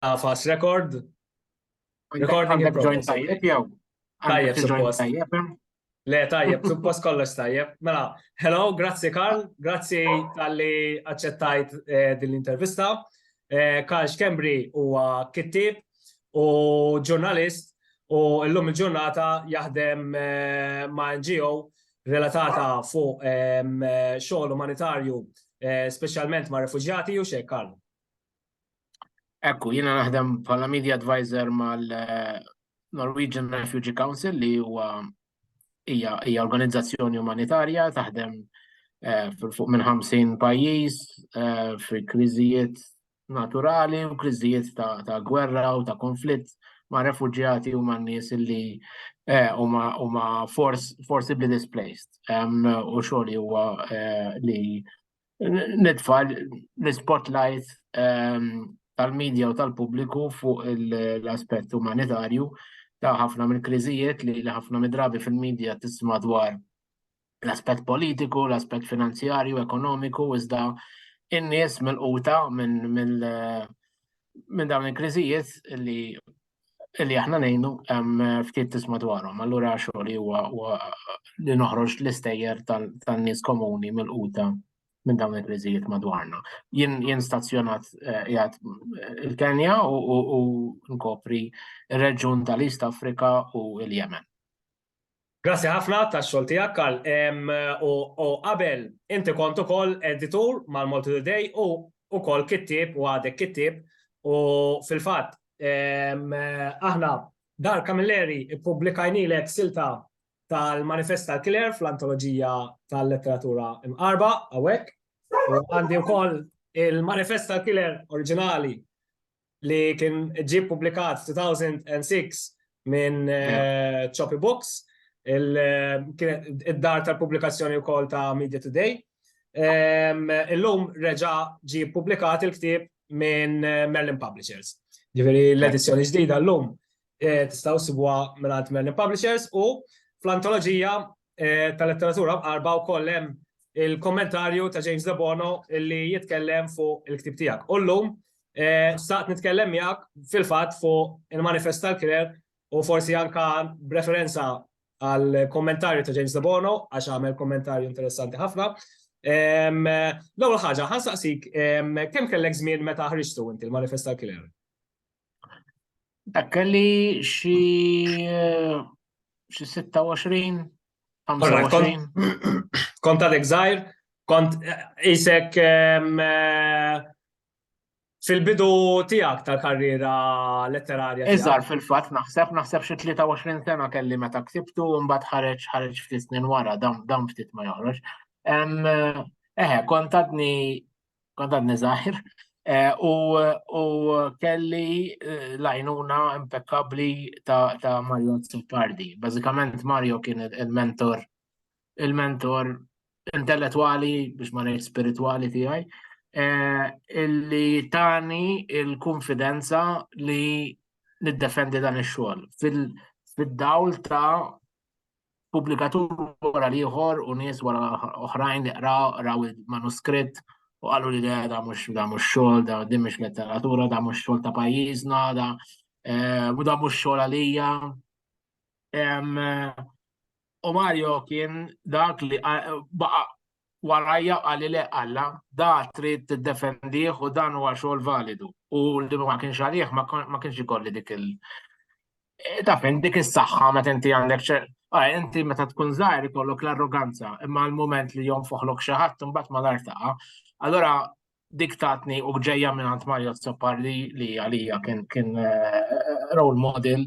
Għafas record. Recording in progress. Tajjeb jew? Tajjeb, suppost. Le, tajjeb, suppost kollox tajjeb. Mela, hello, grazzi Karl, grazzi tal-li accettajt eh, din l-intervista. Eh, Karl Xkembri huwa kittib u ġurnalist u l-lum il-ġurnata jaħdem eh, ma' NGO relatata fuq xogħol umanitarju, speċjalment ma' refuġjati u xejn Karl. Ekku, jiena naħdem bħala media advisor mal-Norwegian eh, Refugee Council li huwa hija organizzazzjoni umanitarja taħdem eh, fuq minn 50 pajjiż eh, fi kriżijiet naturali u kriżijiet ta' gwerra u ta' konflitt ma' refugjati u ma' nies li Eh, u ma forcibly displaced. U xogħli huwa eh, li nitfa' l-spotlight ehm, tal-medja u tal-pubbliku fuq l-aspett umanitarju ta' ħafna minn kriżijiet li ħafna midrabi fil-medja tisma dwar l-aspett politiku, l-aspett finanzjarju, ekonomiku, iżda in-nies mill-quta minn minn dawn il-kriżijiet li li aħna ngħinu ftit tisma' dwarhom. Allura xogħol huwa li noħroġ l-istejjer tan-nies komuni mill-quta minn dawn il-kriżijiet madwarna. Jien stazzjonat eh, jgħat eh, il-Kenja u nkopri il-reġun tal-East Afrika u il-Jemen. Grazzi ħafna tax-xogħol tiegħek, Karl. U qabel inti kont ukoll editur mal-Malta Today u wkoll kittieb u għadek kittieb. U fil-fatt aħna Dar Camilleri ppubblikajnielek silta tal-Manifest tal-Kiler fl-Antoloġija tal-Letteratura Mqarrba hawnhekk. U għandi wkoll il-Manifest tal-Kiler oriġinali li kien ġie publikat 2006 minn eh, Choppy Books, id-dar tal-publikazzjoni wkoll ta' Media Today. Ehm, illum reġa ġie publikat il-ktieb minn eh, Merlin Publishers. Ġifieri l-edizzjoni ġdida llum eh, tistgħu sibwa minn Merlin Publishers u fl-antoloġija eh, tal-letteratura mqarba wkoll hemm il-kommentarju ta' James Debono li jitkellem fuq il-ktib tiegħek. U llum eh, staqt nitkellem miegħek fil-fatt fuq il-manifest tal-kirer u forsi anka b'referenza għal kommentarju ta' James Debono għax għamel kommentarju interessanti ħafna. L-ewwel ħaġa, ħansaqsik kemm kellek żmien meta ħriġtu inti l-manifest tal-kirer? Dak kelli xi eh, xi 26 25. Kont għadek żgħir, kont eh, isek ehm, eh, fil-bidu tiegħek tal-karriera letterarja. Iżgħar fil-fatt naħseb naħseb xi 23 sena kelli meta ksibtu mbagħad ħareġ ħareġ ftit snin wara dawn ftit ma joħroġ. Ehm, eħe, kont għadni Għadan nizaħir. Eh, u kelli eh, lajnuna impeccabli ta' Mario Zuppardi. Bazzikament Mario kien il-mentor, il-mentor intellettuali biex ma ngħid spirituali tiegħi, eh, illi tani il-konfidenza li niddefendi dan ix-xogħol fil-dawl ta' pubblikatur wara l-ieħor u nies wara oħrajn li qraw raw il-manuskritt u qalu li da da mhux da mhux xogħol, da din mhux letteratura, da mhux xogħol ta' pajjiżna, da eh, u da mhux xogħol għalija. U Mario kien dak li eh, baqa warajja qali le Alla da trid tiddefendih u dan huwa xogħol validu u li ma kienx għalih ma kienx ikolli dik il e, taf dik is-saħħa meta inti għandek ah, inti meta tkun żgħir ikollok l-arroganza imma l-mument li jonfoħlok xi ħadd imbagħad ma l-artaqa. Allora dik tatni u ġejja minn għand Mario Zopparli li għalija kien kien eh, role model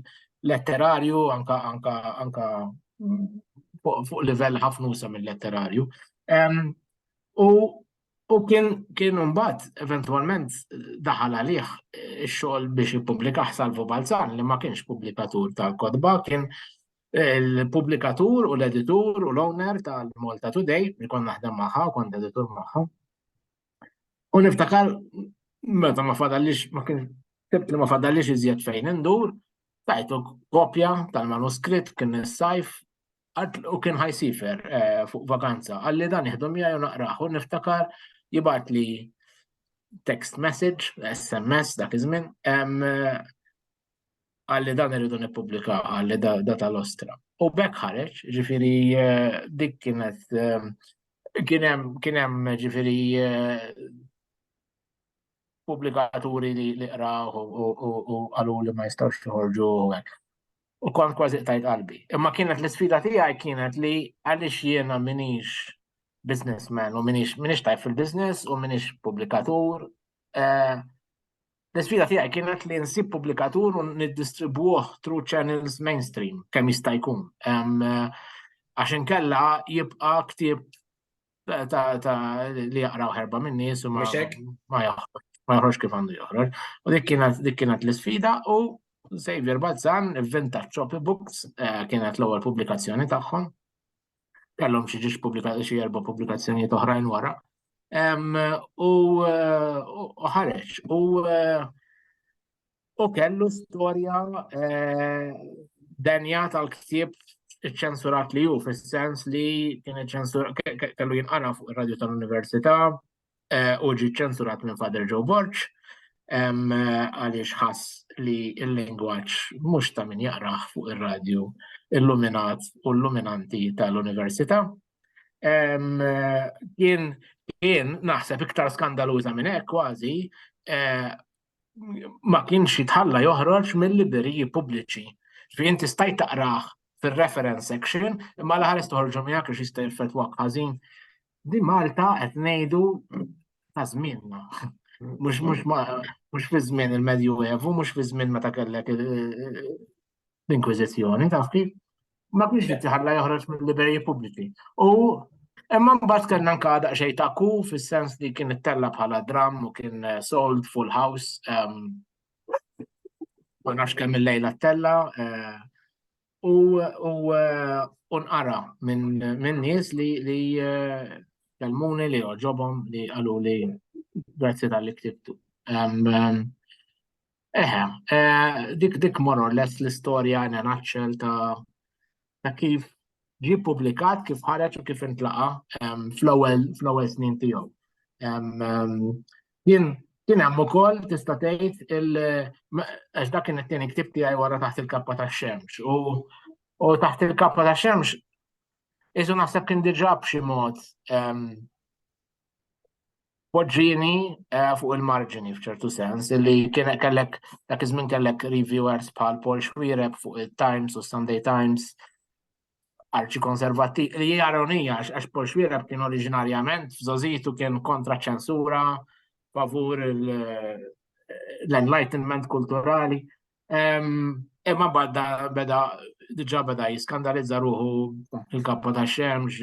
letterarju anka anka anka mm, fuq livell ħafnusa mill-letterarju. U u kien kien mbagħad eventwalment daħal għalih eh, ix-xogħol biex jippublika Salvo Balzan li ma kienx pubblikatur tal-kodba kien Il-pubblikatur u l-editur u l-owner tal-Malta Today, li kont naħdem magħha u kont editur magħha. U niftakar meta ma fadallix ma kien tibt li ma fadallix iżjed fejn indur, tajtu kopja tal-manuskritt kien is-sajf u kien ħajsifer eh, fuq vakanza. Għalli dan jihdu miegħi u naqrah u niftakar jibgħat li text message, SMS dak iż-żmien, għalli dan irridu nippubblika għalli da tal-ostra. U bekk ħareġ, ġifiri eh, dik kienet eh, kienem kienem ġifiri eh, publikaturi li li qraw u għalu li ma jistawx joħorġu u għek. U kont kważi tajt qalbi. Imma kienet l-sfida tiegħi kienet li għaliex jiena minix businessman u minix minix tajf fil-business u minix publikatur. L-isfida tiegħi kienet li nsib pubblikatur u niddistribwuh through channels mainstream kemm jista' jkun. Għax inkella jibqa' ktieb ta' li jaqraw ħerba minn nies u ma joħroġ kif għandu joħroġ. U dik kienet l-isfida u Xavier Balzan, Vintage Copybooks, eh, kienet l-ewwel pubblikazzjoni tagħhom. kellhom xi ġiex pubblikati xi erba' pubblikazzjonijiet oħrajn wara. U ħareġ u u kellu storja eh, denja tal-ktib ċensurat li ju, fis-sens li kien ċensur kellu jinqara fuq ir-radju tal-Università, u ġi ċensurat minn Father Joe Borg għaliex ħass li l-lingwaġġ mhux ta' min jaqrah fuq ir-radju illuminat u illuminanti tal-Università. Kien kien naħseb iktar skandaluża minn hekk kważi ma kienx jitħalla joħroġ mill-libreriji pubbliċi. Ġifieri inti stajt taqrah fir-reference section imma l-aħħar istoħorġu miegħek għax jista' jeffettwak ħażin Di Malta qed ngħidu ta' żmienna. Mhux mhux mhux fi żmien il-Medju Evu, mhux fi żmien meta kellek l-Inkwiżizzjoni, taf kif? Ma kienx qed jħalla joħroġ mill-liberji pubbliċi. U imma mbagħad kellna nkada xej ta' ku fis-sens li kien ittella bħala dram u kien eh, sold full house. Ehm, ma nafx kemm il-lejla ttella. Eh, u nqara minn nies li kellmuni li għoġobhom li qalu li grazzi tal-li ktibtu. Eħe, dik dik more or less l-istorja in a nutshell ta' kif ġi publikat, kif ħareġ u kif intlaqa fl-ewwel snin tiegħu. Jien kien hemm ukoll tista' tgħid il għax dak kien it-tieni ktib tiegħi wara taħt il-kappa tax-xemx u taħt il-kappa tax-xemx isu naħseb kien diġà b'xi mod ehm, poġġini eh, fuq il-marġini f'ċertu sens li kien kellek dak iż-żmien kellek reviewers bħal Paul Schwireb fuq il-Times u Sunday Times arċi konservati li hija ironija għax Paul Xwierab kien oriġinarjament f'żożitu kien kontra ċensura, favur l-enlightenment kulturali. Imma badda beda diġa beda jiskandalizza ruħu il-kappa ta' xemx,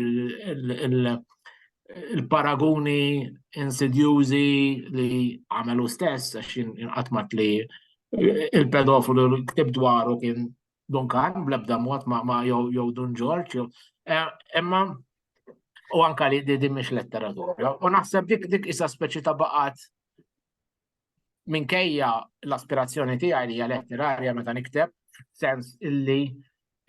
il-paraguni insidjużi li għamelu stess, għax jinqatmat li il-pedofilu l-ktib dwaru kien Duncan, bl-ebda mod ma, ma jew Dun Ġorġ, jew. Eh, imma u anka li din mhix letteratura. U naħseb dik dik isa speċi ta' baqat minkejja l-aspirazzjoni tiegħi li hija letterarja meta nikteb, sens illi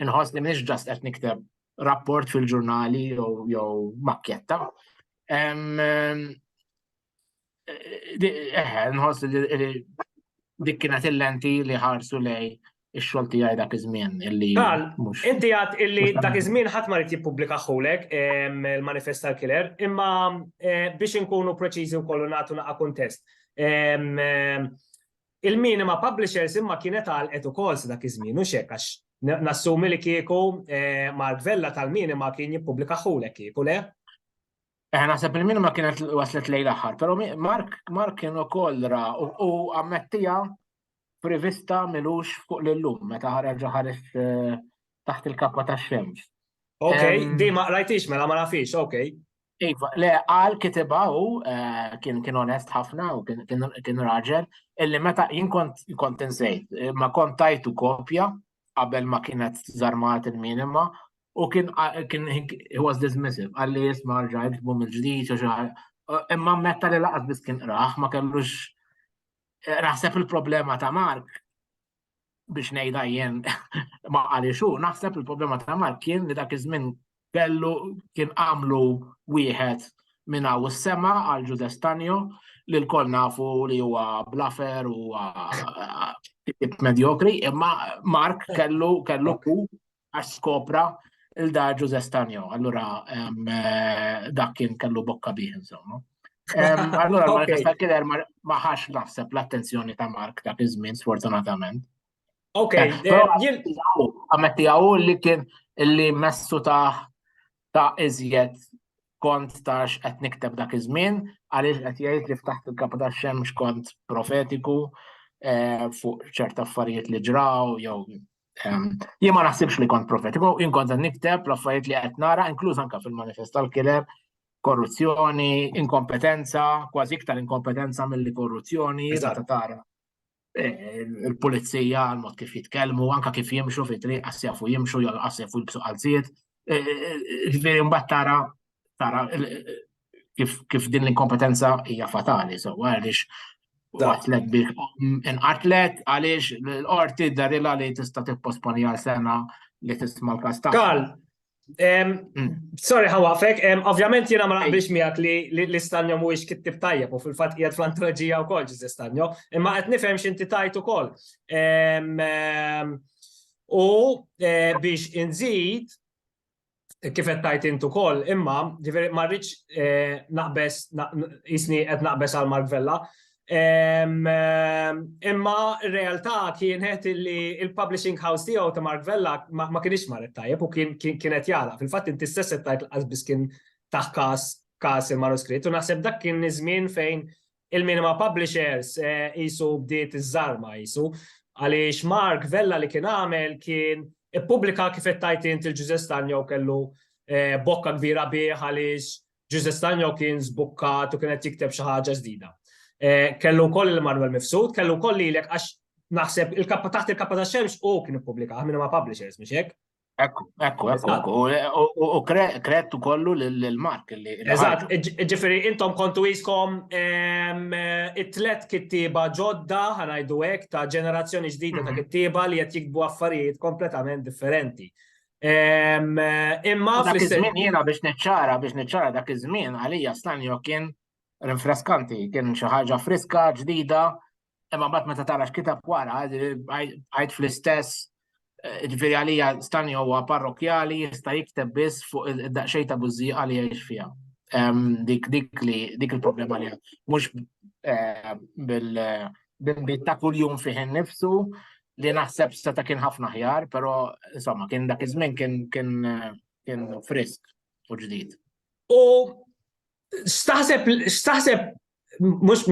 inħoss li mhix ġast qed nikteb rapport fil-ġurnali jew makketta. Eħe, nħoss li dik kienet il-lenti li ħarsu lej ix-xogħol tiegħi dak iż-żmien illi. Tal, inti għad illi dak iż-żmien ħadd ma rid jippubblika ħulek il-manifest tal-killer, imma eh, biex inkunu preċiżi wkoll u nagħtu naqa' kuntest. Il-minima publishers imma kienet għal qed ukoll dak iż-żmien u xek għax nassumi li kieku eh, Mark Vella tal-minima kien jippubblika ħulek kieku le? Eh, naħseb il ma kienet waslet lejn l-aħħar, pero Mark, Mark kien ukoll ra u ammettija prevista milux fuq l-lum meta ħareġ ħares eh, taħt il-kappa ta' xemx. Ok, di ma rajtix mela ma nafix, ok. Iva, le għal kitiba u eh, kien kien onest ħafna u kien raġel illi meta jien kont kont insejt, ma kont tajtu kopja qabel ma kienet zarmat il-minima u kien kien he was dismissive qal li jisma' rġa' jiktbu mill-ġdid u xi Imma metta li laqas biss kien qrah ma kellux naħseb il-problema ta' Mark biex ngħidha jien ma qalixu, naħseb il-problema ta' Mark kien li dak iż-żmien Kellu kien għamlu wieħed minn hawn is-sema għal Ġużè Stanjo li lkoll nafu li huwa blafer u medjokri, imma Mark kellu kellu ku għax skopra il-da Ġużè Stanjo, allura dak kien kellu bokka bih insomma. Allura l-manifesta kien ma ħax naħseb l-attenzjoni ta' Mark dak iż-żmien sfortunatament. Ok, għametti għaw li kien li messu ta' ta' iżjed kont ta' x'qed nikteb dak iż-żmien, għaliex qed jgħid li ftaħt il-kap ta' xemx kont profetiku eh, fuq ċerta affarijiet li ġraw jew ehm, jien ma naħsibx li kont profetiku, jien kont nikteb l-affarijiet li qed nara, inkluż anke fil-manifest tal-kiler, korruzzjoni, inkompetenza, kważi iktar inkompetenza mill-li korruzzjoni, ta' tara. il-pulizija, għal-mod kif jitkellmu, anka kif jimxu fi triq, għasjafu jimxu, jgħal għasjafu jibsu għalziet. E, e, e, ġviri mbatt tara, tara kif din l-inkompetenza hija fatali, so għalix għatlet biex inqatlet għalix l-orti darila li tista tipposponi għal sena li tisma l-kasta. Kal, Sorry ħawafek, ovvjament jena ma naqbilx miegħek li l-istanjo mhuwiex kittib tajjeb u fil-fatt qiegħed fl-antoloġija wkoll ġiż istanjo, imma qed nifhem x'inti tajt ukoll. U eh, biex inżid kif qed tajt intu ukoll, imma ġifieri ma rridx eh, naqbes jisni qed naqbes għal Mark Vella, Imma r-realtà kienet li il-publishing house tiegħu ta' Mark Vella ma kienx marret tajjeb u kien kienet jala. Fil-fatt inti stess qed tgħid l biss kien taħ każ każ il-manuskritt u naħseb dak kien iż-żmien fejn il-minima publishers qisu bdiet iż-żarma qisu għaliex Mark Vella li kien għamel kien ippubblika kif qed tgħid int il-Ġużè Stagno kellu bokka kbira bih għaliex Ġuże Stagno kien żbukkat u kien qed jikteb xi ħaġa ġdida. Eh, kellu wkoll il-Manuel Mifsud, kellu wkoll lilek għax naħseb il-kappa taħt il-kappa ta' xemx u kien ippubblika minn ma' publishers mhux hekk. Ekku, ekku, ekku, u kret kollu l-mark li. Eżatt, ġifiri, intom kontu jiskom ehm, it-tlet kittiba ġodda, ħanajdu hekk, ta' ġenerazzjoni ġdida ta' mhm. kittiba li qed jikbu affarijiet kompletament differenti. Imma dak iż-żmien jiena biex niċċara biex niċċara dak iż-żmien għalija stanjo kien rinfreskanti, kien xi ħaġa friska, ġdida, imma mbagħad meta tara x'kitab wara, għajt fl-istess eh, ġifieri għalija stani huwa parrokjali jista' jikteb biss fuq id-daqxej ta' bużżi għal jgħix fiha. Dik dik li dik il-problema li mhux eh, bil b'inbid ta' kuljum fih innifsu li naħseb seta' kien ħafna aħjar, però insomma kien dak iż-żmien kien kien kien frisk u ġdid. U staħseb staħseb mhux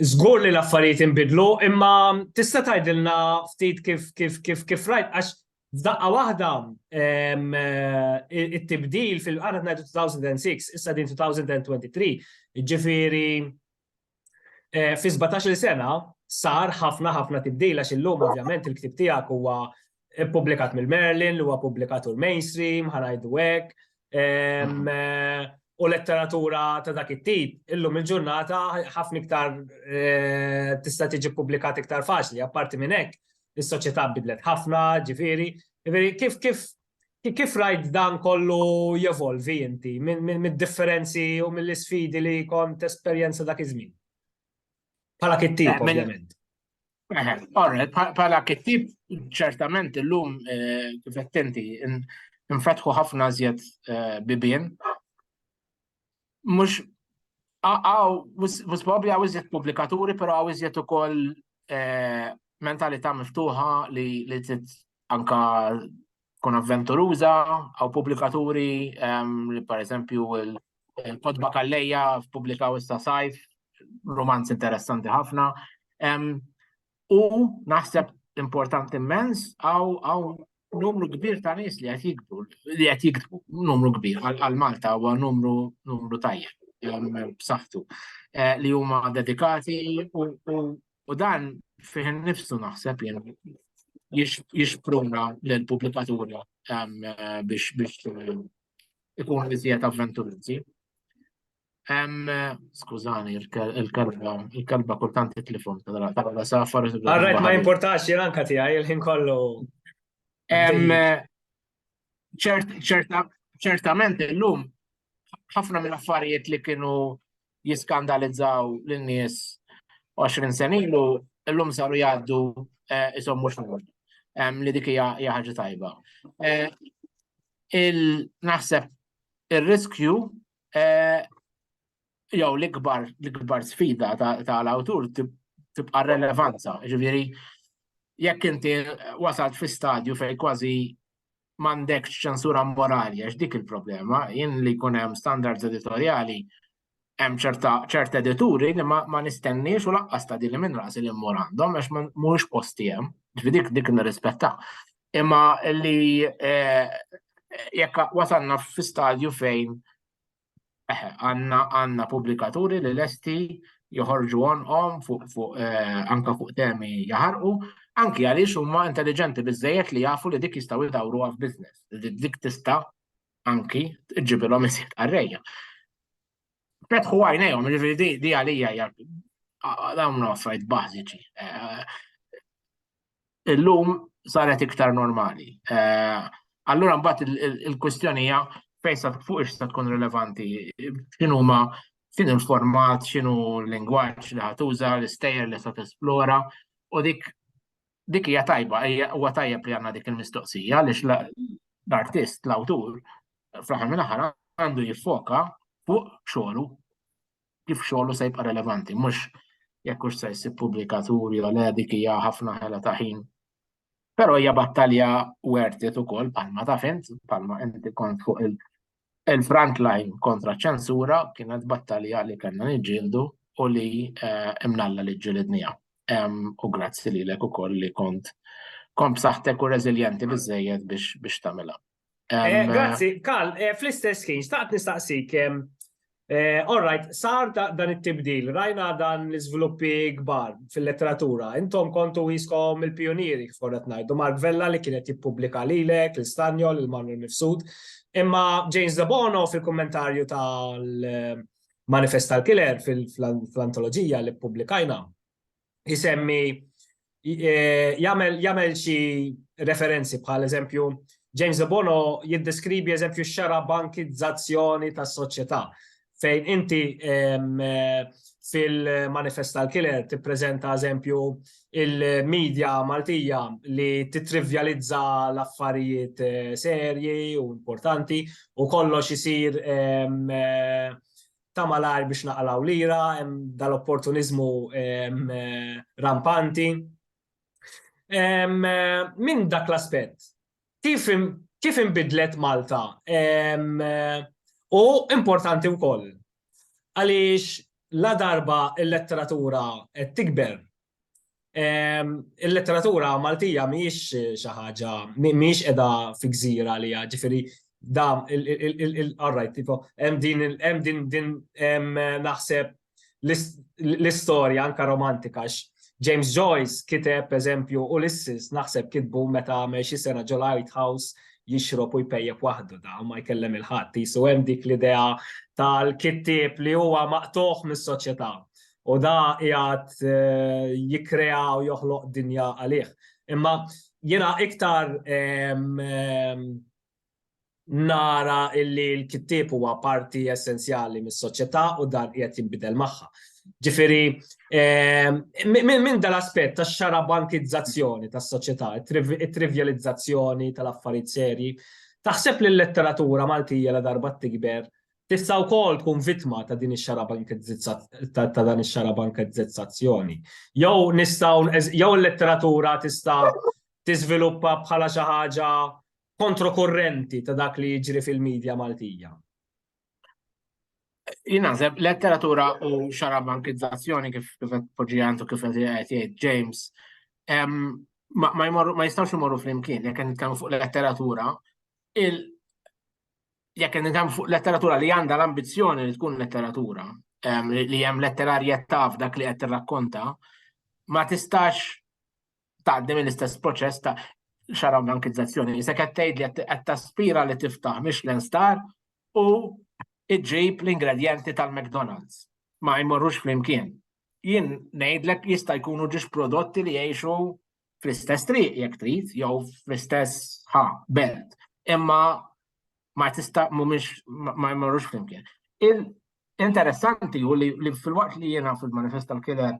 żgur li l-affarijiet inbidlu, imma tista' tgħidilna ftit kif kif kif kif rajt għax f'daqqa waħda it-tibdil fil-qara ngħidu 2006, issa din 2023, ġifieri Eh, fi 17 sena sar ħafna ħafna tibdil għax illum ovvjament il-ktib tiegħek huwa ppubblikat mill-Merlin, huwa ppubblikat ur mainstream, ħanajdu hekk. Mm. Eh, u letteratura ta' dak it-tip, illum il-ġurnata ħafna iktar eh, tista' tiġi ppubblikat iktar faċli, apparti minn hekk, is-soċjetà bidlet ħafna, ġifieri, ġifieri kif kif Kif rajt dan kollu jevolvi inti mid-differenzi u mill-isfidi li kont esperjenza dak iż-żmien? Bħala kittib, eh, ovvjament. Bħala eh, kittib, ċertament illum eh, kif qed inti nfetħu ħafna żjed bibien mux għaw, mux probabli għaw iżjed publikaturi, pero għaw iżjed u koll eh, mentalita miftuħa li li tit anka kun avventuruza, għaw publikaturi ehm, li per esempio il-kodba kalleja publikaw issa sajf, romanz interessanti ħafna. Ehm, U naħseb importanti immens għaw numru kbir ta' nies li qed jikbru, li qed jiktbu, numru kbir għal Malta huwa numru numru tajjeb b'saħħtu eh, li huma dedikati u dan fih nifsu naħseb jien jixpruna l-pubblikaturi eh, biex biex eh, ikun iżjed avventurizi. Skużani, il-kalba, il-kalba kultant titlifon, tal-għala safar. Għarrajt ma importax jiranka tijaj, il-ħin kollu. ċertament il-lum, ħafna minn affarijiet li kienu jiskandalizzaw l-nies 20 senilu, l-lum saru jgħaddu jisom eh, mux mux li dik hija ħaġa tajba. Eh, il-naħseb ir-riskju eh, jew l-ikbar l-ikbar sfida tal-awtur tibqa' relevanza, ġifieri jekk inti wasalt fi stadju fejn kważi m'għandekx ċensura morali għax dik il-problema, jien li jkun hemm standards editorjali hemm ċerta edituri li ma nistenniex u laqqas ta' din minn rasi li mmur għandhom għax mhuwiex posti hemm, dik dik nirrispettaw. imma li jekk wasalna fi stadju fejn għandna pubblikaturi li lesti joħorġu għonqhom anke fuq temi jaħarqu, anke għaliex huma intelliġenti biżżejjed li jafu li dik jistgħu jdawruha f'business, li dik tista' anke ġġibilhom iżjed qarrejja. Fetħu għajnejhom, jiġifieri di għalija hija dawn huma affarijiet bażiċi. illum saret iktar normali. Allura mbagħad il-kwistjoni hija fejn sa fuq ix tkun rilevanti, x'inhuma x'in il-format, x'inhu l-lingwaġġ li ħatuża, l-istejjer li se tesplora, u dik dik hija tajba, huwa tajjeb li għandna dik il-mistoqsija għaliex l-artist, l-awtur, fl-aħħar mill-aħħar għandu jiffoka fuq xogħlu kif xogħlu se jibqa' relevanti, mhux jekk hux se jsib pubblikaturi jew le dik hija ħafna ħela ta' ħin. Però hija battalja worth it ukoll bħalma ta' fint, bħalma inti kont fuq il-front line kontra ċensura kienet battalja li kellna niġġieldu u li eh, imnalla li ġġilidnija. U grazzi lilek ukoll li kont kont b'saħħtek u reżiljenti biżejjed biex tagħmilha. Eh, grazzi, Karl, eh, fl-istess ħin, staqt nistaqsik, eh, all right, sar dan it-tibdil, rajna dan l-izviluppi kbar fil-letteratura, intom kontu jiskom il-pionieri, forret najdu, Mark Vella li kienet jippubblika lilek, l-Stanjol, il-Manuel Mifsud, imma James Zabono fil-kommentarju tal-manifest tal-killer fil-antologija li publikajna, jisemmi eh, jagħmel xi referenzi bħal eżempju James de Bono jiddeskrivi eżempju xara bankizzazzjoni tas soċjetà fejn inti eh, fil-manifest tal-killer tippreżenta eżempju il-medja Maltija li titrivjalizza l-affarijiet eh, serji u importanti u kollox isir eh, ta' malajr biex naqalgħu lira, hemm dal-opportuniżmu rampanti. Minn dak l-aspett, kif inbidlet Malta? U importanti wkoll, għaliex ladarba l-letteratura qed tikber, Il-letteratura Maltija mhijiex xi ħaġa, mhijiex qiegħda fi gżira li ġifieri da il-qarrajt, tipo, hemm din hemm din din naħseb l-istorja anka romantika James Joyce kiteb eżempju Ulysses naħseb kitbu meta għamel xi sena ġo Light House jixrob u jpejjeb waħdu da ma jkellem il-ħadd jisu hemm dik l-idea tal-kittieb li huwa maqtuħ mis-soċjetà. U da jgħat eh, jikrea u joħloq dinja għalih. Imma jena iktar nara illi l-kittib huwa parti essenzjali mis-soċjetà u dan qiegħed jinbidel magħha. Ġifieri minn dal-aspett tax-xara bankizzazzjoni tas-soċjetà, it-trivjalizzazzjoni tal-affarijiet serji, taħseb li l-letteratura Maltija la darba tikber Tista' wkoll tkun vittma ta' din ta' dan ix-xarabankezzizzazzjoni. Jew nistgħu jew il-letteratura tista' tiżviluppa bħala xi ħaġa kontrokurrenti ta' dak li jiġri fil-media Maltija. Jien naħseb letteratura u xarabankizzazzjoni kif kif qed poġġi għandu kif qed jgħid James ma jistgħux imorru flimkien jekk qed nitkellmu fuq letteratura jekk qed nitkellmu fuq letteratura li għandha l-ambizzjoni li tkun letteratura, ehm, li hemm letterarjetà f'dak li qed tirrakkonta, ma tistax tgħaddi mill-istess proċess ta' xaraw bankizzazzjoni. Se qed tgħid li qed taspira li tiftaħ Michelin Star u iġġib l-ingredjenti tal-McDonald's. Ma jmorrux flimkien. Jien ngħidlek jista' jkunu ġiex prodotti li jgħixu fl-istess triq jekk trid jew fl-istess ħa belt. Imma ma tista' mhumiex ma jmorrux flimkien. Interessanti u li, li fil-waqt li jiena fil-manifest tal-kiler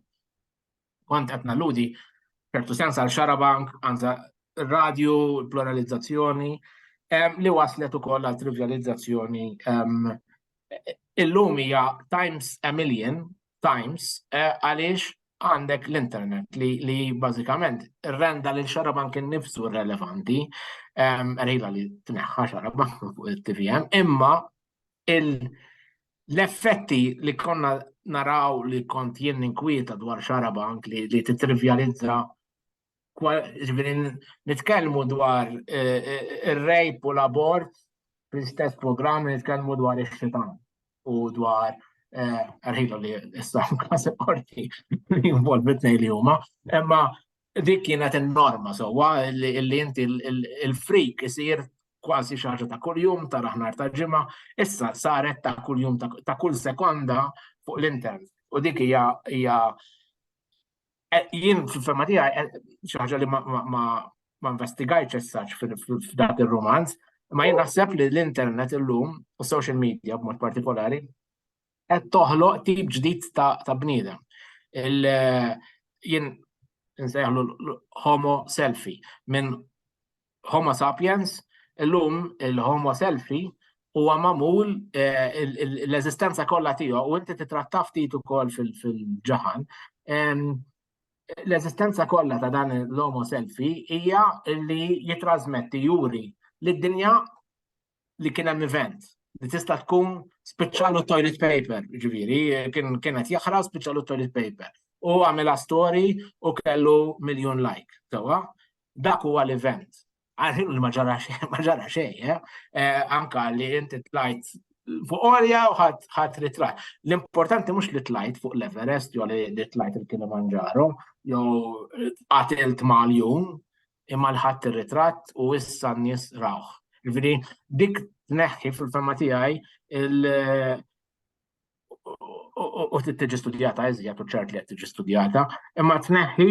kont qed nalludi ċertu sens għal xarabank, għanza radju, pluralizzazzjoni, li waslet ukoll għal trivializzazzjoni. Illum hija times a million Times eh, għaliex għandek l-internet li, li bażikament renda lil xarabank innifsu relevanti, ehm, rejla li tneħħa xarabank fuq il-TVM, imma l-effetti li konna naraw li kont jien inkwieta dwar xarabank li, li titrivjalizza ġifieri nitkellmu dwar ir-rejp u l-abort fl-istess programm li nitkellmu dwar ix-xitan u dwar għarħilu li issa kas qorti li jinvolvi tnej li huma, imma dik kienet in-norma sewwa li inti il-frik isir kważi xi ħaġa ta' kuljum ta' raħnar ta' ġimgħa, issa saret ta' kuljum ta' kull sekonda fuq l-internet. U dik hija Eh, jien fil-fema tiegħi eh, xi ħaġa li ma investigajtx essaċ f'dak ir-romanz, ma jien naħseb li l-internet illum u social media b'mod partikolari qed toħloq tip ġdid ta' bniedem. Eh, jien nsejħlu homo selfie minn Homo sapiens, illum il-Homo selfie huwa magħmul eh, l-eżistenza kollha tiegħu u inti titratta ftit ukoll fil-ġaħan. L-eżistenza kollha ta' dan l-homo selfie hija li jitrasmetti juri li d-dinja li kien hemm event li tista' tkun spiċċalu toilet paper, ġifieri, kien kienet jaħra spiċċalu toilet paper. U għamilha story u kellu miljon like, sewwa. Dak huwa l-event. Għalħin li ma ġara xejn, ma ġara xejn, eh? Eh, anka li inti tlajt fuq orja u ħadd ritrat. L-importanti mhux li tlajt fuq l-Everest jew li tlajt il-Kilimanġaro jew qatilt mal-jum, imma l-ħadd ir-ritratt u issa n-nies rawh. Ġifieri dik tneħħi fil-fema tiegħi u tiġi studjata iżjed u ċert li qed tiġi studjata, imma tneħħi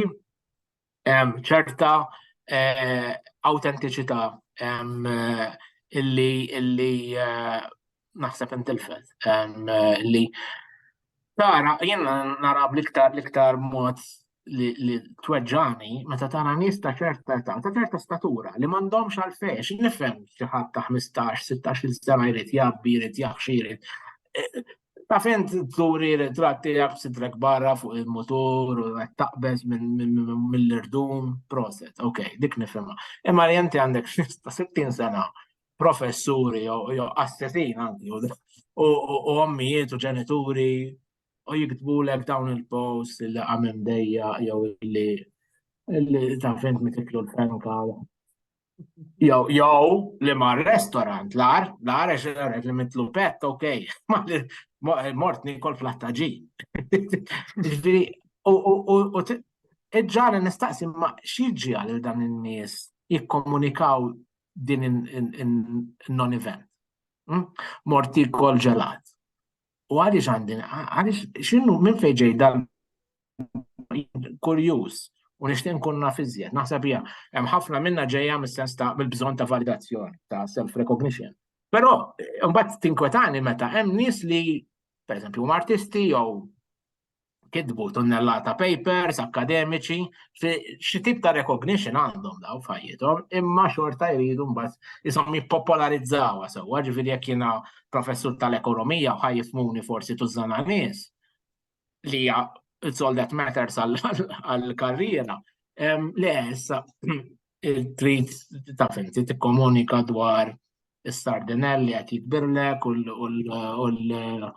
ċerta eh, awtentiċità illi illi eh, naħseb intilfet li tara jien nara bl-iktar l-iktar mod li tweġġani meta tara nies ta' ċerta età, ta' ċerta statura li m'għandhomx għalfejn xi nifhem xi ħadd ta' 15-16 sena jrid jabbi, jrid jaħxi, jrid eh, ta' fejn turi ritratti jaf sidrek barra fuq il-motor u qed taqbeż mill-irdum proset, ok, dik nifhimha. Imma li inti għandek 60 sena professuri jew assetin anki u ommijiet u ġenituri u jiktbulek dawn il-post li għamim dejja jew li li ta' fint mitiklu l-fenka jew jew li ma' restorant l-ar l-ar għax għaret li mitlu pet ok mort nikol fl-attaġi ġviri u ġan nistaqsi ma xieġi għal dan il-nies jikkomunikaw din in-non-event. Hmm? Morti kol ġelat. U għaliex għandin, għaliex xinnu minn fejġej dal kurjuż u nixtieq nkun naf iżjed. Naħseb hija hemm ħafna minna ġejja mis-sens ta' mill-bżonn ta' validazzjoni ta' self-recognition. Però mbagħad tinkwetani meta hemm nies li pereżempju huma artisti jew kitbu tunnellata papers akademiċi, xi tip ta' recognition għandhom daw fajjithom, imma xorta jridu mbagħad isom jippopolarizzawha sewwa, ġifieri jekk jiena professur tal-ekonomija u ħajjifmuni forsi tużana nies li hija all that matters għall-karriera. Le issa trid ta' fenti tikkomunika dwar is-sardinelli qed jitbirlek u l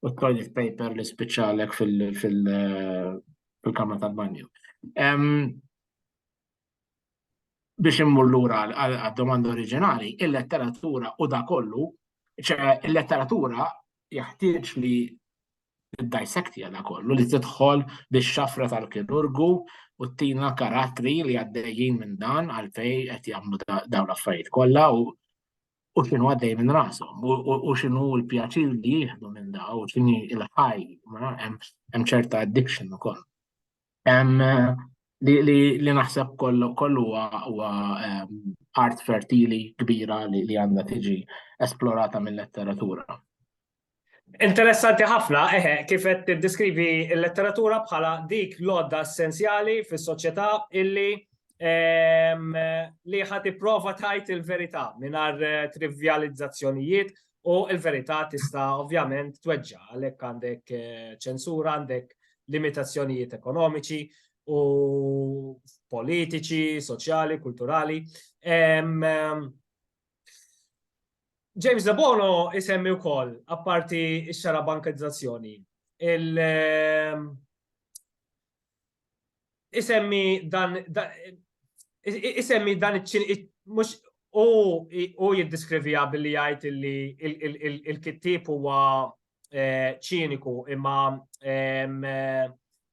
u t-toilet paper li spiċċalek fil-kamra tal-banju. Biex immur lura għad-domanda oriġinali, il-letteratura u da kollu, ċe il-letteratura jaħtieġ li id-dissect jada kollu li tidħol biex xafra tal-kirurgu u t-tina karatri li għaddejjin minn dan għalfej qed jagħmlu dawn l-affarijiet kollha u u xinu għaddej minn rasom, u xinu l-pjaċir li jieħdu minn da, u xini il-ħaj, hemm ċerta addiction u koll. Li naħseb kollu huwa art fertili kbira li għandha tiġi esplorata mill-letteratura. Interessanti ħafna, eħe, kif qed tiddeskrivi l-letteratura bħala dik l-għodda essenzjali fis-soċjetà illi ehm, li ħad tipprova tajt il-verità mingħajr eh, trivjalizzazzjonijiet u l-verità tista' ovvjament tweġġa għalhekk għandek eh, ċensura, għandek limitazzjonijiet ekonomiċi u politiċi, soċjali, kulturali. Ehm, ehm, James Debono isemmi wkoll apparti x-xara bankizzazzjoni. Il ehm, isemmi dan isemmi dan mhux u jiddiskrivija billi jgħid li il-kittib huwa eh, ċiniku imma ehm,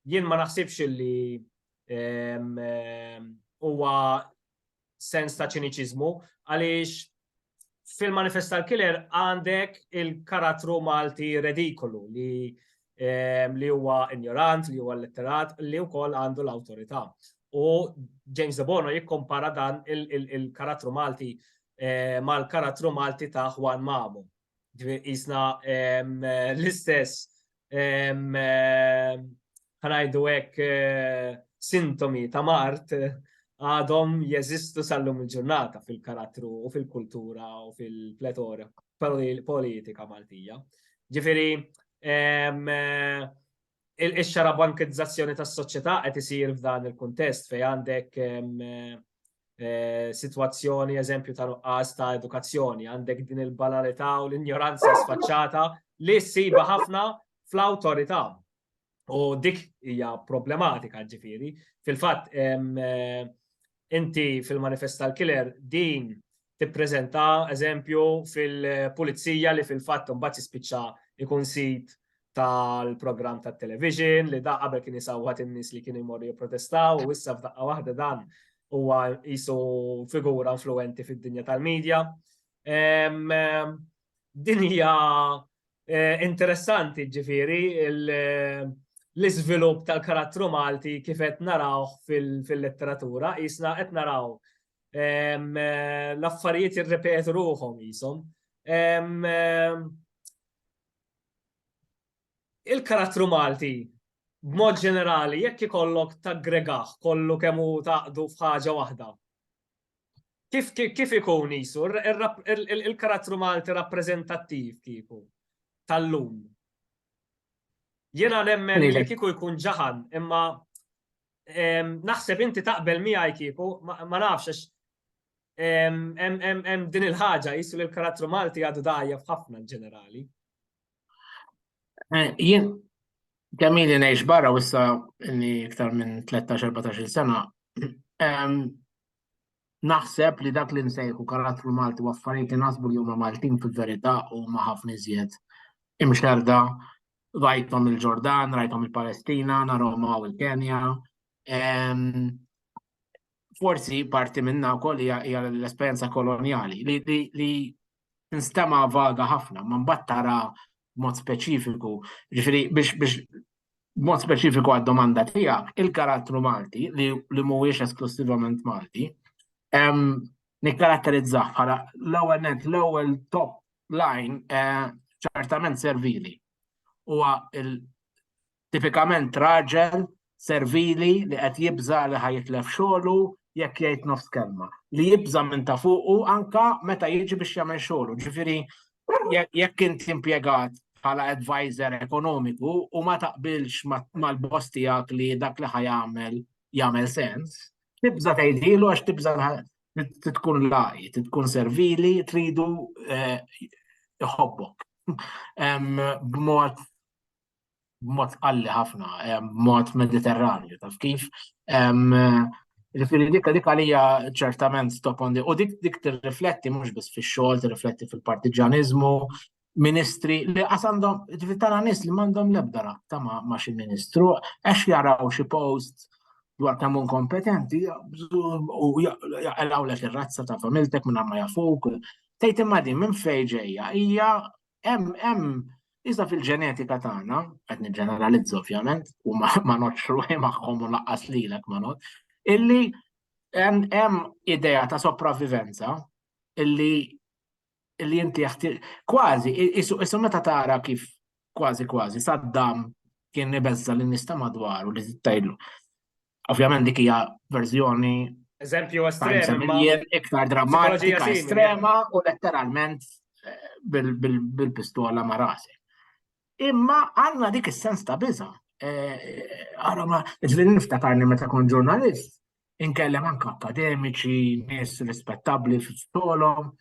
jien ma naħsibx li ehm, huwa sens ta' ċiniċiżmu għaliex fil-manifest tal-killer għandek il-karattru Malti redikolu li ehm, li huwa ignorant, li huwa letterat, li wkoll għandu l-awtorità. U James De Bono jikkompara dan il-karattru Malti eh, mal-karattru Malti ta' Juan Mamu. Ġifieri qisna l-istess ħanajdu hekk eh, sintomi ta' mart eh, għadhom jeżistu sal-lum il-ġurnata fil-karattru u fil-kultura u fil-pletora politika Maltija. Ġifiri, eh, Ix-xarabankizzazzjoni tas-soċjetà qed isir f'dan il-kuntest fejn għandek sitwazzjoni, eżempju, ta' nuqqas ta' edukazzjoni, għandek din il-banalità u l-injoranza sfaċċata li ssibha ħafna fl-awtorità. U dik hija problematika ġifieri. Fil-fatt, Inti fil-manifest tal-killer din tippreżenta eżempju fil-pulizija li fil-fatt imbagħad jispiċċa jkun sit tal-programm tat-television li da qabel kien isawwat in-nies li kienu jmorru jipprotestaw u issa f'daqqa waħda dan huwa qisu figura influenti fid-dinja tal-medja. Din hija Interessanti, ġifieri, l-iżvilupp tal-karattru Malti kif qed narawh fil-letteratura, qisna qed naraw l-affarijiet jirrepetu ruħhom qishom. Il-karattru Malti, b'mod ġenerali, jekk ikollok taggregah kollu kemm hu tgħaqqdu f'ħaġa waħda, Kif ikun jisu il-karattru Malti rappreżentattiv kieku tal-lum? Jiena nemmen li kieku jkun ġaħan, imma naħseb inti taqbel miegħi kieku, ma nafx għax hemm din il-ħaġa jisu li l-karattru Malti għadu dgħajjef ħafna ġenerali. Eh, jien Kamili ngħix barra u issa li iktar minn 13-14 sena. Naħseb li dak li nsejħu karattru Malti u affarijiet li nasbu li huma Maltin fil-verità u ma ħafna iżjed imxerda rajtom il-Ġordan, rajtom il-Palestina, narhom u il-Kenja. Forsi parti minna wkoll hija l-esperjenza koloniali li tinstema' vaga ħafna, ma mbagħad tara mod speċifiku, ġifieri biex biex mod speċifiku għad-domanda tiegħek, il-karattru Malti li li mhuwiex esklussivament Malti, nikkaratterizzah bħala l-ewwel net l-ewwel top line eh, ċertament servili. Huwa Tipikament raġel servili li qed jibża' li ħa jitlef xogħlu jekk jgħid nofs kelma, li jibża' minn ta' fuqu anke meta jiġi biex jagħmel xogħlu. Ġifieri jekk int impjegat bħala advisor ekonomiku u ma taqbilx mal-boss tiegħek li dak li ħa jagħmel jagħmel sens, tibża' tgħidhielu għax tibża' trid tkun lagħqi, trid tkun servili, tridu jħobbok b'mod b'mod qalli ħafna, b'mod mediterranju, taf kif. Ġifieri dik dik għalija ċertament top on the u dik dik tirrifletti mhux biss fix-xogħol, tirrifletti fil-partiġaniżmu, ministri li qas għandhom ġifieri tara nies li m'għandhom l-ebda rabta ma' xi ministru għax jaraw xi post dwar kemm kompetenti u jaqlgħu lek ir-razza ta' familtek minn ma jafuk. Tgħid imma din minn fejn ġejja hija Hemm hemm iżda fil-ġenetika tagħna, qed niġġeneralizza ovvjament, u ma notx ruħi magħhom u laqqas lilek ma not, illi hemm idea ta' sopravvivenza illi illi inti kważi, isu meta tara kif kważi kważi Saddam kien ibeżza l-nista madwaru li tajlu. Ovvjament dik hija verżjoni eżempju estrem iktar drammatika estrema u letteralment eh, bil-pistola ma' rasi. Imma għandna dik is-sens ta' biża. Għara eh, ma ġli niftakarni meta kon ġurnalist, inkellem anka akademiċi, nies rispettabbli f'xogħolhom,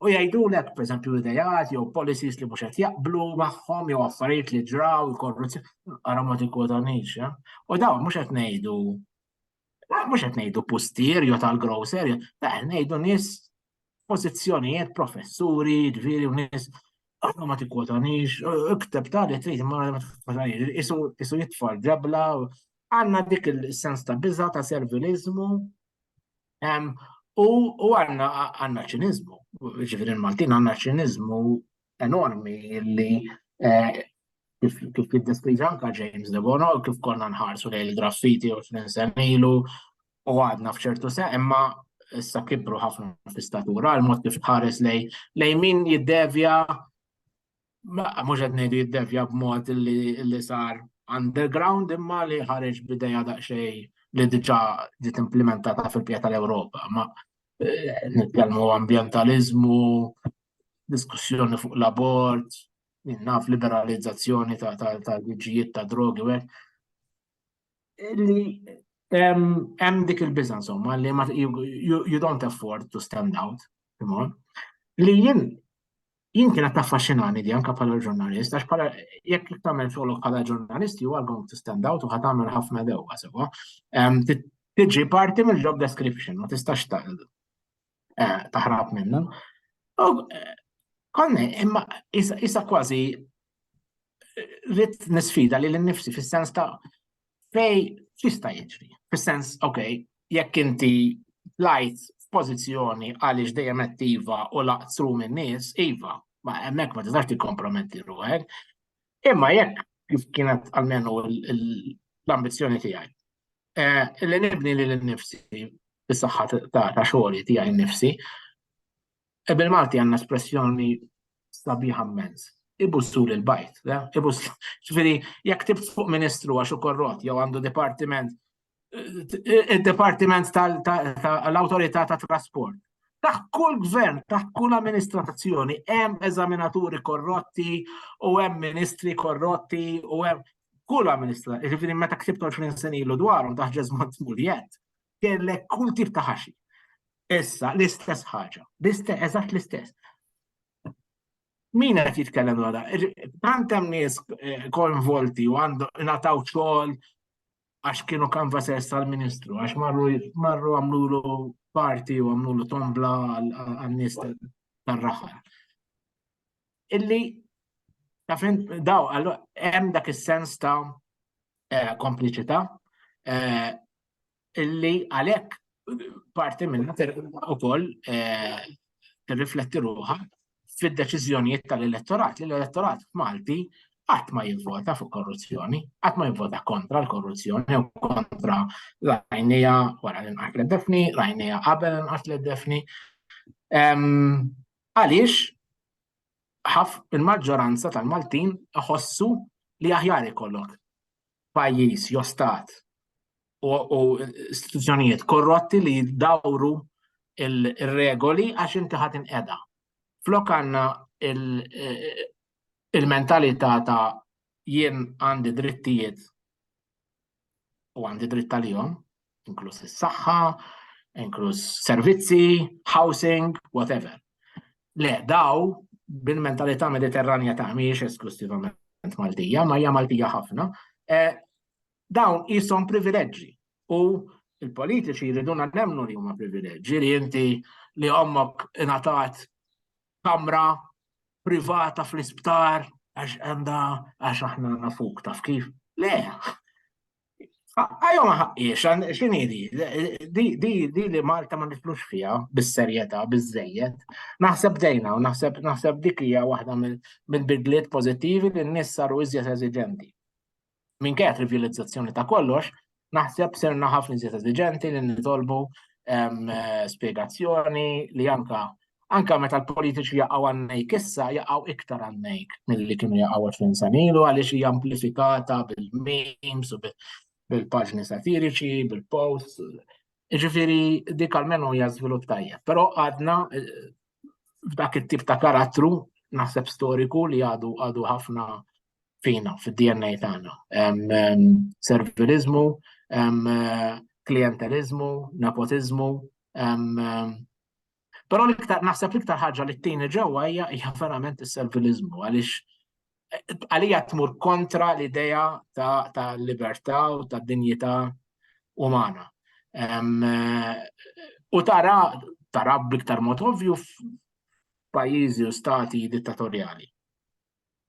u jgħidulek pereżempju idejat jew policies li mhux qed jaqblu magħhom jew affarijiet li ġraw il-korruzzjoni ara ma tikkodanix. Eh? U dawn mhux qed ngħidu mhux qed ngħidu pustier jew tal-grocer, qed ngħidu nies pożizzjonijiet professuri, ġifieri u nies ara ma tikkodanix, ikteb ta' li trid ma tikkodanix, isu jitfal ġabla għandna dik il-sens ta' biża ta' serviliżmu U għandna ċiniżmu, ġifieri l-Maltin għandna ċiniżmu enormi li eh, kif jiddeskrivi anka James de Bono, kif konna nħarsu lejn il-graffiti u x'ninsen ilu u għadna f'ċertu se, imma issa kibru ħafna fl-istatura, l-mod kif tħares lej lej min jiddevja mhux qed ngħidu jiddevja b'mod li sar underground imma li ħareġ b'idea daqsxejn li diġà ġiet implementata fil-pija tal-Ewropa. Ma eh, nitkellmu ambjentaliżmu, diskussjoni fuq l-abort, naf liberalizzazzjoni tal-liġijiet ta' drogi u li hemm dik il-biża insomma li you don't afford to stand out, li jien jien kienet taffaxxinani di anka bħala ġurnalist, għax bħala jekk li tagħmel xogħolok bħala ġurnalist you are going to stand out u ħad tagħmel ħafna dewwa sewwa. Tiġi parti mill-job description, ma tistax eh, taħrab minna. Eh, Konni, imma isa kważi eh, rrit nisfida li l-nifsi fis-sens ta' Fej xista jiġri? Fis-sens, ok, jekk inti lajt f'pożizzjoni għaliex dejjem attiva u laqtru minn nies, iva, ma hemmhekk ma tistax tikkomprometti ruħek. Imma jekk kif kienet għalmenu l-ambizzjoni tiegħi. Eh, li nibni li l-nifsi bis-saħħa ta' xogħli tiegħi nifsi, E bil-Malti għandna espressjoni sabiħa mmens. Ibussu lil bajt, le? Ibussu. Ġifieri, jekk tibt fuq ministru għax u korrot jew għandu dipartiment id-Departiment tal-Autorità ta' Trasport. Taħ kull gvern, taħ kull amministrazzjoni, hemm eżaminaturi korrotti u hemm ministri korrotti u hemm kull amministrazzjoni. Ġifieri meta ksibt 20 sen ilu dwarhom taħ ġeżmont muljet. kellek kull tip ta' ħaxi. Issa, l-istess ħaġa, l-istess, eżatt l-istess. Min qed jitkellem għada? Tant hemm nies eh, konvolti u għandu nataw xogħol għax kienu kanvasers tal-ministru, għax marru marru għamlulu parti u għamlulu tombla għal-nies tal-raħar. Illi, tafin, daw, hemm dak is-sens ta' eh, kompliċità eh, illi għalhekk parti minnha ukoll eh, tirrifletti ruħha fid-deċiżjonijiet tal-elettorat li l-elettorat Malti qatt ma jivvota fuq korruzzjoni, qatt ma jivvota kontra l-korruzzjoni u kontra l-għajnija wara l-inqas l-defni, l-għajnija qabel l-inqas l-defni. Għaliex il-maġġoranza tal-Maltin iħossu li aħjar ikollok pajjiż jew stat u istituzzjonijiet korrotti li jiddawru il-regoli għax inti ħadd inqeda. Flok għandna il-mentalità ta' jien għandi drittijiet u għandi dritt għalihom, inkluż is-saħħa, inkluż servizzi, housing, whatever. Le, daw bil-mentalità mediterranja ta' miex esklusivament Maltija, ma hija Maltija ħafna, e, dawn jisom privileġġi u il-politiċi jriduna nemnu li huma privileġġi li inti li ommok ingħatat kamra privata fl-isptar għax għanda għax aħna għanna fuq taf kif. Le, għajom ħaqqiex, xini di, di, di li Malta ma nitlux fija, bis-serjeta, biz-zejjet, naħseb dejna u naħseb naħseb dik hija waħda mill-bidliet pozittivi li n-nis saru iżjed eżiġenti. minkejja trivjalizzazzjoni ta' kollox, naħseb serna ħafna iżjed eżiġenti li nitolbu spiegazzjoni li anka anka meta l-politiċi jaqgħu għannejk issa jaqgħu iktar għannejk milli kienu jaqgħu 20 sanilu għaliex hija amplifikata bil-memes u bil-paġni satiriċi, bil-posts. Ġifiri, dik għalmenu hija żvilupp tajjeb. Però għadna eh, f'dak it-tip ta' karattru naħseb storiku li għadu għadu ħafna fina, fid-DNA tagħna. Servilizmu, klientelizmu, nepotizmu. Però l-iktar naħseb l-iktar ħaġa li t-tini ġewwa hija hija verament is-servilizmu għaliex għalija tmur kontra l-idea ta' libertà u ta' dinjità umana. U tara tara b'iktar mod ovvju f'pajjiżi u stati dittatorjali.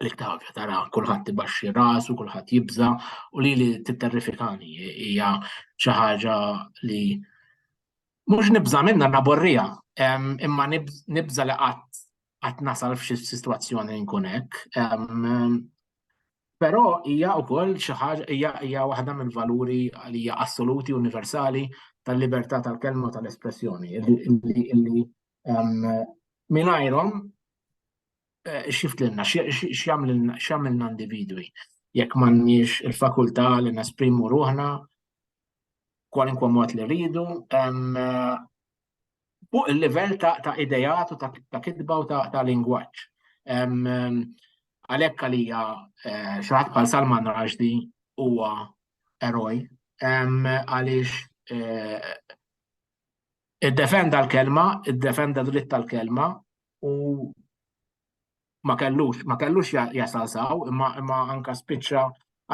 li tafja tara kulħadd ibaxxi rasu, kulħadd jibża u li li titterrifikani hija xi ħaġa li mhux nibża minna naborrija, imma nibża li qatt qatt nasal f'xi sitwazzjoni nkun hekk. Però hija wkoll xi ħaġa hija hija waħda mill-valuri li hija assoluti universali tal-libertà tal-kelma tal-espressjoni. Mingħajrhom xift lilna, x'jagħmilna individwi jekk m'għandniex il-fakultà li nesprimu ruħna kwalinkwa mod li rridu fuq il-livell ta' idejat u ta' kitba u ta' lingwaġġ. Għalhekk għalija eh, xi ħadd bħal Salman Rushdie huwa eroj għaliex eh, id-defenda l-kelma, id-defenda dritt tal-kelma, u ma kellux, ma kellux jasal saw, imma anka spiċċa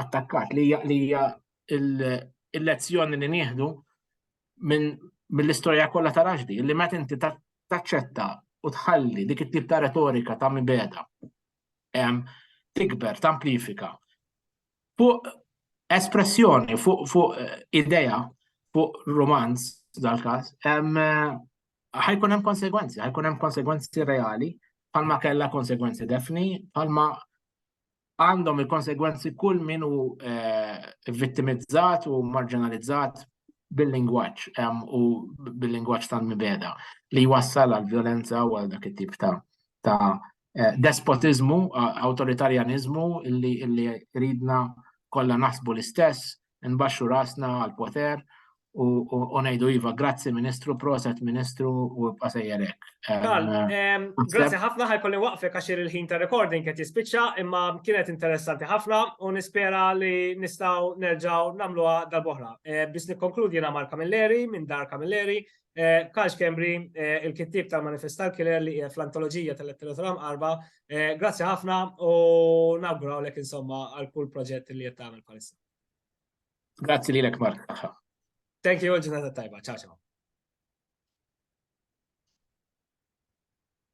attakkat li hija il-lezzjoni li nieħdu minn mill-istorja kollha ta' raġdi, li meta inti taċċetta u tħalli dik it-tip ta' retorika ta' mibeda tikber, tamplifika fuq espressjoni, fuq idea, fuq romanz dal-każ, ħajkun hemm konsegwenzi, ħajkun hemm konsegwenzi reali, palma kella konsegwenzi defni, palma għandhom il-konsegwenzi kull min u eh, vittimizzat u marginalizzat bil-lingwaċ u bil-lingwaċ tal-mibeda li jwassal għal violenza u għal dak it-tip ta' ta' eh, despotizmu, autoritarjanizmu illi ridna kollha naħsbu l-istess nbaxxu rasna għall-poter u ngħidu iva grazzi Ministru, proset Ministru u ibqa' sejjer hekk. Grazzi ħafna ħajkolli waqfek għax il-ħin ta' recording qed jispiċċa imma kienet interessanti ħafna u nispera li nistgħu nerġgħu nagħmluha darb'oħra. Biex nikkonkludi jiena Mark Camilleri minn Dar Camilleri Karl Schembri, il-kittieb tal-Manifestar Killer li qiegħed fl-antoloġija tal-letteratura mqarrba, grazzi ħafna u nawgurawlek insomma għal kull proġett li qed tagħmel bħalissa. Grazzi lilek Mark. Thank you, ġurnata tajba. Ciao ciao.